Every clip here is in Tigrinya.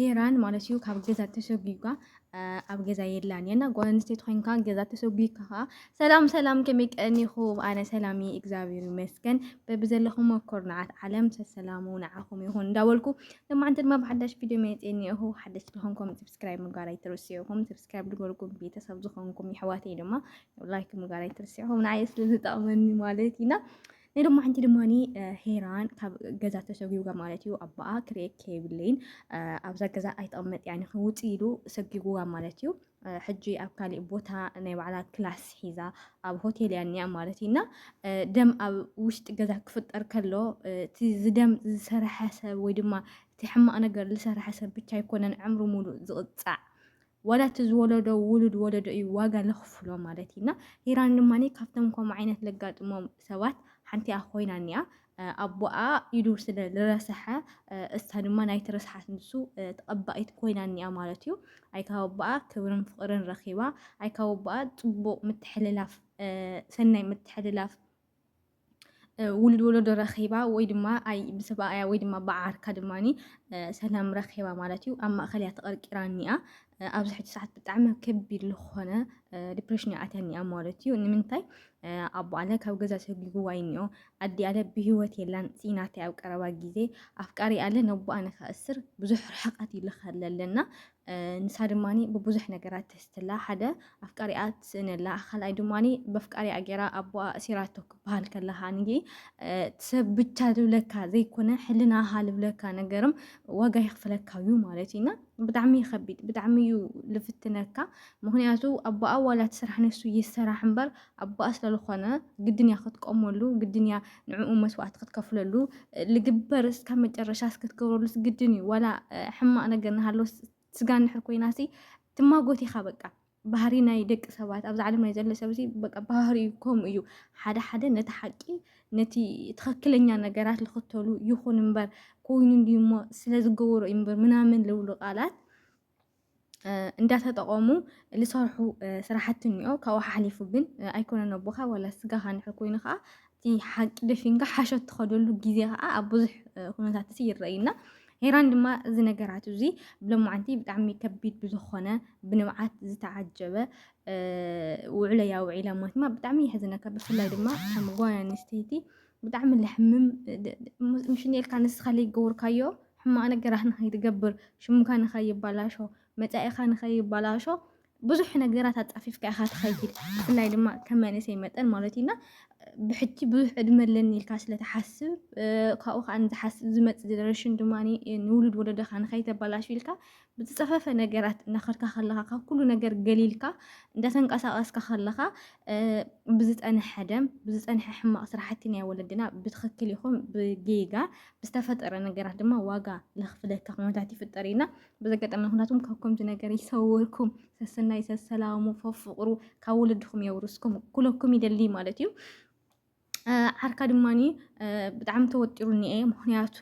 ሄራን ማለት እዩ ካብ ገዛ ተሰጒጓ ኣብ ገዛ የላን የና ጓል ኣንስተይቲ ኮይንካ ገዛ ተሰጒካ ከዓ ሰላም ሰላም ከመይ ቀኒኹም ኣነ ሰላም እየ እግዚኣብሔር ይመስገን በብዘለኹም ኮርናዓት ዓለም ሰሰላሙ ንዓኹም ይኹን እንዳበልኩ ለማዓንቲ ድማ ብሓዳሽ ቪድዮ መፅእ እኒአኹ ሓደሽ ዝኾንኩም ሰብስክራይብ ምግባር ኣይትርስዑኹም ሰብስክራይብ ድበልኩም ቤተሰብ ዝኾንኩም ይሕዋተይ ድማ ላይክ ምግባር ኣይትርስዑኹም ንዓይ ስለዝጠቕመኒ ማለት ኢና ናይ ሎማዓንቲ ድማኒ ሄራን ካብ ገዛ ተሰጒጓ ማለት እዩ ኣባኣ ክርኤክ የብለይን ኣብዛ ገዛ ኣይተቐመጥ ያኒ ክውፅ ኢሉ ሰጒጉዋ ማለት እዩ ሕጂ ኣብ ካሊእ ቦታ ናይ ባዕላ ክላስ ሒዛ ኣብ ሆቴል እያ እኒኣ ማለት እዩ እና ደም ኣብ ውሽጢ ገዛ ክፍጠር ከሎ እቲ ዝደም ዝሰርሐ ሰብ ወይ ድማ እቲ ሕማቕ ነገር ዝሰርሐ ሰብ ብቻ ኣይኮነን ዕምሪ ሙሉእ ዝቕፃዕ ዋላ እቲ ዝወለዶ ውሉድ ወለዶ እዩ ዋጋ ለኽፍሎ ማለት እዩ እና ሂራን ድማ ካብቶም ከምኡ ዓይነት ለጋጥሞም ሰባት ሓንቲኣ ኮይና እኒኣ ኣቦኣ ኢዱ ስለ ዝረስሐ እሳ ድማ ናይቲ ርስሓት ንሱ ተቐባኢት ኮይና እኒኣ ማለት እዩ ኣይ ካብ ኣቦኣ ክብርን ፍቕርን ረኺባ ኣይ ካብ ኣቦኣ ፅቡቕ ምትሕልላፍ ሰናይ ምትሕልላፍ ውሉድ ወለዶ ረኺባ ወይ ድማ ኣይ ብሰብኣያ ወይ ድማ ብዓርካ ድማ ሰላም ረኺባ ማለት እዩ ኣብ ማእኸል እያ ተቐርቂራ እኒኣ ኣብዚ ሕጂ ሰዓት ብጣዕሚ ከቢድ ዝኾነ ዲፕሬሽን እያ ኣትያ እኒኣ ማለት እዩ ንምንታይ ኣቦ ኣለ ካብ ገዛ ሰጒጉዋ እኒኦ ኣዲ ኣለ ብሂወት የላን ፅኢናት ኣብ ቀረባ ግዜ ኣፍቃሪ ኣለ ነቦኣ ንከእስር ብዙሕ ርሕቐት ይልኸለለና ንሳ ድማኒ ብቡዙሕ ነገራት ትሕዝትላ ሓደ ኣፍቃሪኣ ትስእነላ ካልኣይ ድማኒ በፍቃሪኣ ጌራ ኣቦኣ እሲራቶ ክበሃል ከለካ ንጊ ሰብ ብቻ ልብለካ ዘይኮነ ሕልናኻ ልብለካ ነገርም ዋጋ ይኽፍለካ እዩ ማለት እዩ እና ብጣዕሚ ይከቢድ ብጣዕሚ እዩ ልፍትነካ ምክንያቱ ኣቦኣ ዋላ ትስራሕ ነሱ ይሰራሕ እምበር ኣቦኣ ስለልኾነ ግድን እያ ክትቆመሉ፣ ግድን እያ ንዕኡ መስዋእቲ ክትከፍለሉ፣ ልግበር እስካብ መጨረሻ እስክትገብረሉስ ግድን እዩ። ዋላ ሕማቕ ነገር ንሃሎ ስጋ እንድሕር ኮይናሲ ትማጎት ኢኻ በቃ ባህሪ ናይ ደቂ ሰባት ኣብዚ ዓለም ናይ ዘሎ ሰብ በቃ ባህሪ ከምኡ እዩ። ሓደ ሓደ ነቲ ሓቂ ነቲ ትኽክለኛ ነገራት ዝኽተሉ ይኹን እምበር ኮይኑ እንዲሞ ስለዝገበሮ እዩ እምበር ምናምን ዝብሉ ቃላት እንዳተጠቐሙ ዝሰርሑ ስራሕቲ እኒኦ ካብኡ ሓሓሊፉ ግን ኣይኮነን ኣቦኻ ዋላ ስጋኻ እንድሕር ኮይኑ ከዓ እቲ ሓቂ ደፊንካ ሓሸት ትኸደሉ ግዜ ከዓ ኣብ ብዙሕ ኩነታት እዚ ይረኣዩና ሄራን ድማ እዚ ነገራት እዚ ብሎማዓንቲ ብጣዕሚ ከቢድ ብዝኾነ ብንብዓት ዝተዓጀበ ውዕለያ ውዒላ ማለት ድማ ብጣዕሚ የሕዝነካ ብፍላይ ድማ ከም ጓል ኣንስተይቲ ብጣዕሚ ለሕምም ምሽኔልካ ንስኻ ለይገበርካዮ ሕማቕ ነገራት ንኸይትገብር ሽምካ ንኸይባላሾ መጻኢኻ ንኸይባላሾ ብዙሕ ነገራት ኣጣፊፍካ ኢኻ ትኸይድ ብፍላይ ድማ ከም መንእሰይ መጠን ማለት እዩና ብሕጂ ብዙሕ ዕድመ ኣለኒ ኢልካ ስለትሓስብ ካብኡ ከዓ ንዝሓስብ ዝመፅእ ጀነሬሽን ድማ ንውሉድ ወለደኻ ንኸይተባላሹ ኢልካ ብዝፀፈፈ ነገራት እናኸድካ ከለኻ ካብ ኩሉ ነገር ገሊልካ እንዳተንቀሳቀስካ ከለኻ ብዝፀንሐ ደም ብዝፀንሐ ሕማቅ ስራሕቲ ናይ ወለድና ብትክክል ይኹን ብጌጋ ብዝተፈጠረ ነገራት ድማ ዋጋ ለኽፍለካ ኩነታት ይፍጠር ኢና በዚ ኣጋጣሚ ኩነታትኩም ካብ ከምዚ ነገር ይሰውርኩም ሰሰናይ ሰሰላሙ ፈፍቅሩ ካብ ወለድኩም የውርስኩም ኩለኩም ይደሊ ማለት እዩ ዓርካ ድማኒ ብጣዕሚ ተወጢሩ እኒኤ ምክንያቱ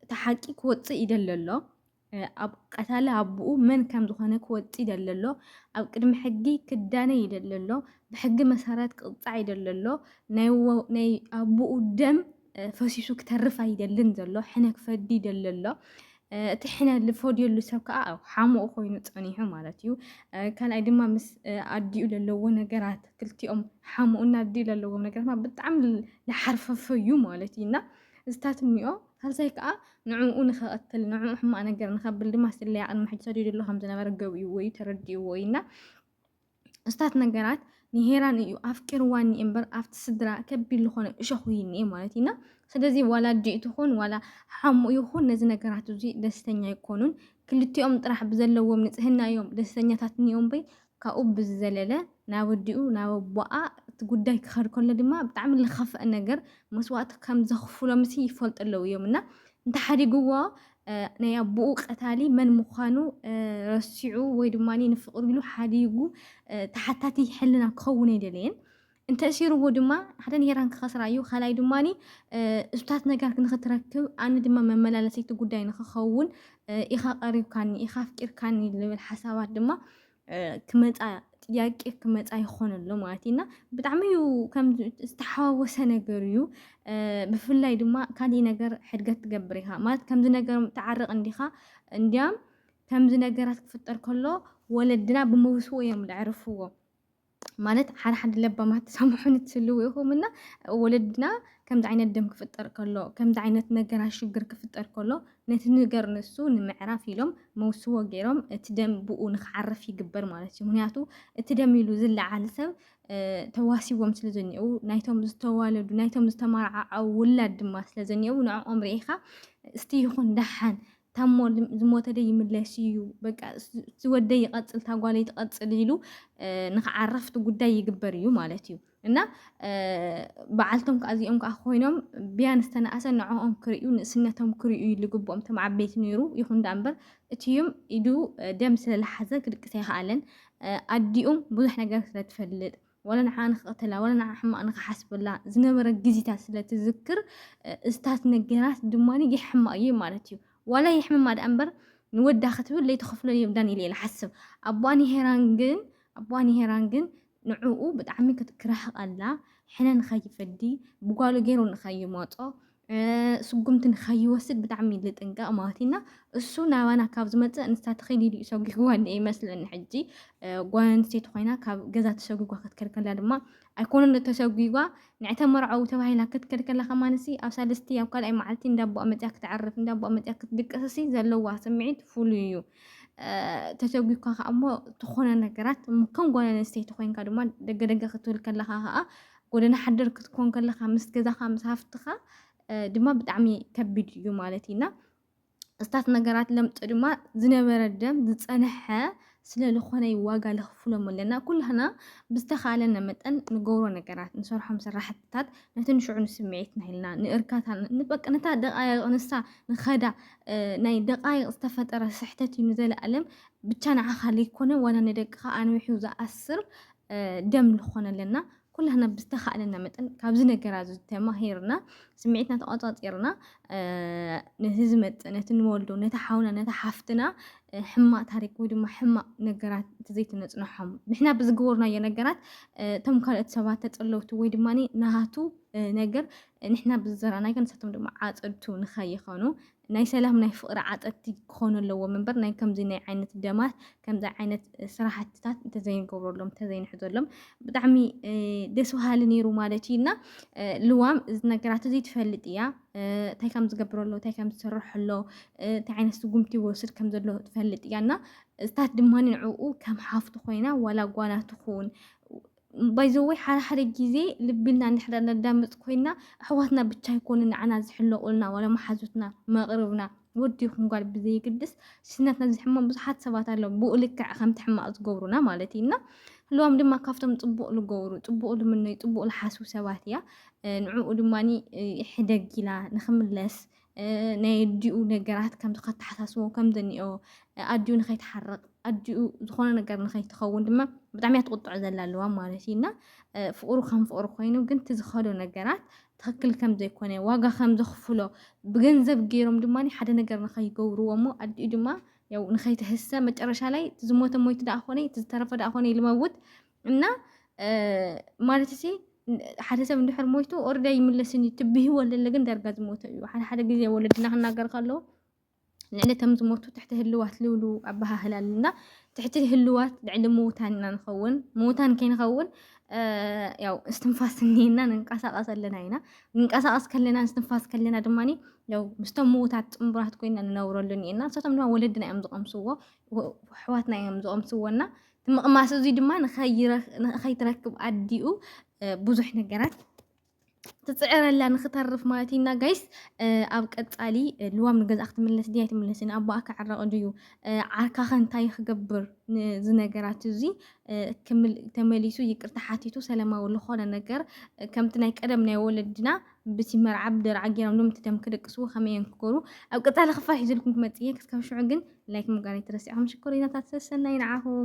እቲ ሓቂ ክወፅእ ይደሊ ኣሎ ኣብ ቀታሊ ኣቦኡ መን ከም ዝኾነ ክወፅእ ይደሊ ኣሎ ኣብ ቅድሚ ሕጊ ክዳነ ይደሊ ኣሎ ብሕጊ መሰረት ክቕፃዕ ይደሊ ኣሎ ናይ ወ- ናይ ኣቦኡ ደም ፈሲሱ ክተርፍ ኣይደልን ዘሎ ሕነ ክፈዲ ይደሊ ኣሎ እቲ ሕነ ዝፈድየሉ ሰብ ከዓ ሓሙኡ ኮይኑ ፀኒሑ ማለት እዩ ካልኣይ ድማ ምስ ኣዲኡ ዘለዎ ነገራት ክልቲኦም ሓሙኡና ኣዲኡ ዘለዎ ነገራት ብጣዕሚ ዝሓርፈፈ እዩ ማለት እዩ እና እዚታት እኒኦ ሳልሳይ ከዓ ንዕኡ ንኸቐትል ንዕኡ ሕማቕ ነገር ንኸብል ድማ ስለያ ቅድሚ ሕጂ ሰዲዱ ኣሎ ከም ዝነበረ ገቢኡዎ እዩ ተረዲኡዎ እዩ እና እስታት ነገራት ንሄራን እዩ ኣፍቂርዋ እኒ እምበር ኣብቲ ስድራ ከቢድ ዝኾነ እሾኹ ይኒ ማለት እዩና ስለዚ ዋላ ኣዲ ትኹን ዋላ ሓሙ ይኹን ነዚ ነገራት እዚ ደስተኛ ኣይኮኑን ክልቲኦም ጥራሕ ብዘለዎም ንጽህና እዮም ደስተኛታት እኒኦም በይ ካብኡ ብዝዘለለ ናብ ኣዲኡ ናብ ኣቦኣ እቲ ጉዳይ ክኸድ ከሎ ድማ ብጣዕሚ ዝኸፍአ ነገር መስዋእቲ ከም ዘኽፍሎምሲ ይፈልጡ ኣለዉ እዮም እና እንተሓዲግዎ ናይ ኣቦኡ ቀታሊ መን ምዃኑ ረሲዑ ወይ ድማ ንፍቕሪ ኢሉ ሓዲጉ ተሓታቲ ሕልና ክኸውን ኣይደለየን እንተ እሲርዎ ድማ ሓደ ንሄራን ክኸስራ እዩ ካልኣይ ድማ እሱታት ነገር ንክትረክብ ኣነ ድማ መመላለሰይቲ ጉዳይ ንክኸውን ኢኻ ቀሪብካኒ ኢኻ ኣፍቂርካኒ ልብል ሓሳባት ድማ ክመፃ ጥያቄ ክመፃ ይኾን ኣሎ ማለት እዩ እና ብጣዕሚ እዩ ከም ዝተሓዋወሰ ነገር እዩ ብፍላይ ድማ ካሊእ ነገር ሕድገት ትገብር ኢኻ ማለት ከምዚ ነገር ትዓርቕ እንዲኻ እንዲያም ከምዚ ነገራት ክፍጠር ከሎ ወለድና ብምውስዎ እዮም ዘዕርፍዎ ማለት ሓደ ሓደ ለባማት ትሰምዑን ትህልው ኢኹም እና ወለድና ከምዚ ዓይነት ደም ክፍጠር ከሎ ከምዚ ዓይነት ነገራ ሽግር ክፍጠር ከሎ ነቲ ነገር ንሱ ንምዕራፍ ኢሎም መውስቦ ገይሮም እቲ ደም ብኡ ንክዓርፍ ይግበር ማለት እዩ ምክንያቱ እቲ ደም ኢሉ ዝለዓል ሰብ ተዋሲቦም ስለ ዘኒአው ናይቶም ዝተዋለዱ ናይቶም ዝተማርዓዓው ውላድ ድማ ስለ ዘኒአው ንዕኦም ርኢኻ እስቲ ይኹን ደሓን ታሞ ዝሞተ ዶ ይምለስ እዩ በቃ እቲ ወደይ ይቐፅል እታ ጓለይ ትቐፅል ኢሉ ንክዓርፍ እቲ ጉዳይ ይግበር እዩ ማለት እዩ እና በዓልቶም ከዓ እዚኦም ከዓ ኮይኖም ብያን ዝተነኣሰ ንዕኦም ክርእዩ ንእስነቶም ክርእዩ ልግብኦም እቶም ዓበይቲ ነይሩ ይኹን ዳ እምበር እትዩም ኢዱ ደም ስለዝሓዘ ክድቅስ ኣይከኣለን ኣዲኡም ብዙሕ ነገር ስለትፈልጥ ወላ ንዓኣ ንክቐተላ ወላ ንዓኣ ሕማቕ ንክሓስበላ ዝነበረ ግዜታት ስለ ትዝክር እስታት ነገራት ድማ የሕማ እዩ ማለት እዩ ዋላ የሕምማ ደኣ እምበር ንወዳ ክትብል ለይቲ ክፍሎ የብዳን ኢለ ይሓስብ ኣቦኣ ንሄራን ግን ኣቦኣ ንሄራን ግን ንዕኡ ብጣዕሚ ክትክራህቕ ኣላ ሕነ ንኸይፈዲ ብጓሉ ገይሩ ንኸይመፆ ስጉምቲ ንኸይወስድ ብጣዕሚ ልጥንቀቕ ማለት ኢና እሱ ናባና ካብ ዝመፅእ ንሳ ተኸይድ ኢሉ ሰጒግዋ እኒአ ይመስለኒ ሕጂ ጓል ኣንስተይቲ ኮይና ካብ ገዛ ተሰጒጓ ክትከልከላ ድማ ኣይኮነን እተሰጒጓ ንዕተ ተመርዓዊ ተባሂላ ክትከልከላ ከማንሲ ኣብ ሳልስቲ ኣብ ካልኣይ መዓልቲ እንዳቦኣ መፅያ ክትዓርፍ እንዳቦኣ መፅያ ክትድቅስሲ ዘለዋ ስምዒት ፍሉይ እዩ ተሰጒኳ ከዓ እሞ ዝኾነ ነገራት ከም ጓል ኣንስተይቲ ኮይንካ ድማ ደገደገ ክትብል ከለካ ከዓ ጎደና ሓደር ክትኮን ከለኻ ምስ ገዛኻ ምስ ሃፍትኻ ድማ ብጣዕሚ ከቢድ እዩ ማለት እዩ እና እስታት ነገራት ለምጥ ድማ ዝነበረ ደም ዝፀንሐ ስለ ዝኾነ ዋጋ ለኽፍሎም ኣለና ኩላህና ብዝተኻለነ መጠን ንገብሮ ነገራት ንሰርሖም ስራሕትታት ነቲ ንሽዑ ንስምዒትና ኢልና ንእርካታ ንበቂ ነታ ደቃይቕ ንሳ ንኸዳ ናይ ደቃይቕ ዝተፈጠረ ስሕተት እዩ ንዘለኣለም ብቻ ንዓኻ ዘይኮነ ዋላ ንደቅኻ ኣንዊሑ ዝኣስር ደም ንኾነ ኣለና ኩላህና ብዝተኻእለና መጠን ካብዚ ነገራ እዚ ተማሂርና ስምዒትና ተቆፃፂርና ነቲ ዝመፅእ ነቲ ንወልዶ ነቲ ሓውና ነቲ ሓፍትና ሕማቅ ታሪክ ወይ ድማ ሕማቅ ነገራት ዘይትነፅንሖም ንሕና ብዝገበርናዮ ነገራት እቶም ካልኦት ሰባት ተፀለውቲ ወይ ድማ ናሃቱ ነገር ንሕና ብዝዘራናዮ ንሳቶም ድማ ዓፀድቱ ንኸይኸኑ ናይ ሰላም ናይ ፍቅሪ ዓጠጥቲ ክኾኑ ኣለዎም እምበር ናይ ከምዚ ናይ ዓይነት ደማት ከምዚ ዓይነት ስራሕትታት እንተዘይንገብረሎም እንተዘይንሕዘሎም ብጣዕሚ ደስ በሃሊ ነይሩ ማለት እዩ እና ልዋም እዚ ነገራት እዚ ትፈልጥ እያ እንታይ ከም ዝገብሮ ኣሎ እንታይ ከም ዝሰርሕ ኣሎ እንታይ ዓይነት ስጉምቲ ይወስድ ከም ዘሎ ትፈልጥ እያ እና እዝታት ድማ ንዕኡ ከም ሓፍቱ ኮይና ዋላ ጓና ትኹን ባይዘወይ ሓደ ሓደ ግዜ ልቢልና እንድሕር ነዳምፅ ኮይና ኣሕዋትና ብቻ ይኮኑ ንዓና ዝሕለቁልና ዋላ መሓዙትና መቅርብና ወዲ ይኹን ጓል ብዘይግድስ ስናትና ዝሕመም ብዙሓት ሰባት ኣለዉ ብኡ ልክዕ ከምቲ ሕማቅ ዝገብሩና ማለት እዩ እና ህልዋም ድማ ካብቶም ፅቡቅ ዝገብሩ ፅቡቅ ልምነዩ ፅቡቅ ዝሓስቡ ሰባት እያ ንዕኡ ድማ ሕደግ ኢላ ንክምለስ ናይ ኣዲኡ ነገራት ከምቲ ከተሓሳስቦ ከም ዘኒኦ ኣዲኡ ንኸይትሓርቕ ኣዲኡ ዝኾነ ነገር ንኸይትኸውን ድማ ብጣዕሚ እያ ትቁጥዖ ዘላ ኣለዋ ማለት እዩ እና ፍቅሩ ከም ፍቅሩ ኮይኑ ግን እቲ ዝኸዶ ነገራት ትኽክል ከም ዘይኮነ ዋጋ ከም ዘኽፍሎ ብገንዘብ ገይሮም ድማ ሓደ ነገር ንኸይገብርዎ እሞ ኣዲኡ ድማ ያው ንኸይትህሰ መጨረሻ ላይ ዝሞተ ሞይቱ ደኣ ኮነ እቲ ዝተረፈ ደኣ ኮነ ይልመውት እና ማለት ሲ ሓደ ሰብ እንድሕር ሞይቱ ኦርዳ ይምለስን እዩ ትብህዎ ለለ ግን ዳርጋ ዝሞተ እዩ ሓደ ሓደ ግዜ ወለድና ክናገር ከለዉ ንዕሊ ከም ዝሞቱ ትሕቲ ህልዋት ልብሉ ኣበሃህላ ኣለና ትሕቲ ህልዋት ልዕሊ ምዉታን ኢና ንኸውን ምዉታን ከይንኸውን ያው እስትንፋስ እኒና ንንቀሳቐስ ኣለና ኢና ንንቀሳቐስ ከለና እስትንፋስ ከለና ድማ ያው ምስቶም ምዉታት ፅምቡራት ኮይና ንነብረሉ እኒና ንሳቶም ድማ ወለድና እዮም ዝቐምስዎ ኣሕዋትና እዮም ዝቐምስዎና እቲ ምቕማስ እዙይ ድማ ንኸይትረክብ ኣዲኡ ብዙሕ ነገራት ትፅዕረላ ንክተርፍ ማለት ኢና ጋይስ ኣብ ቀፃሊ ልዋም ንገዛ ክትምለስ ድያ ኣይትምለስን ኣቦኣ ክዕረቕ ድዩ ዓርካኸ እንታይ ክገብር እዚ ነገራት እዚ ተመሊሱ ይቅርታ ሓቲቱ ሰላማዊ ዝኾነ ነገር ከምቲ ናይ ቀደም ናይ ወለድና ብቲ መርዓ ብደርዓ ገይሮም ሎም ትደም ክደቅስዎ ከመይ እዮም ክገብሩ ኣብ ቀፃሊ ክፋል ሒዘልኩም ክመፅእ እየ ክስከብ ሽዑ ግን ላይክ ምጋር ኣይትረስዑ ሽኮሪናታት ሰሰናይ ንዓኹም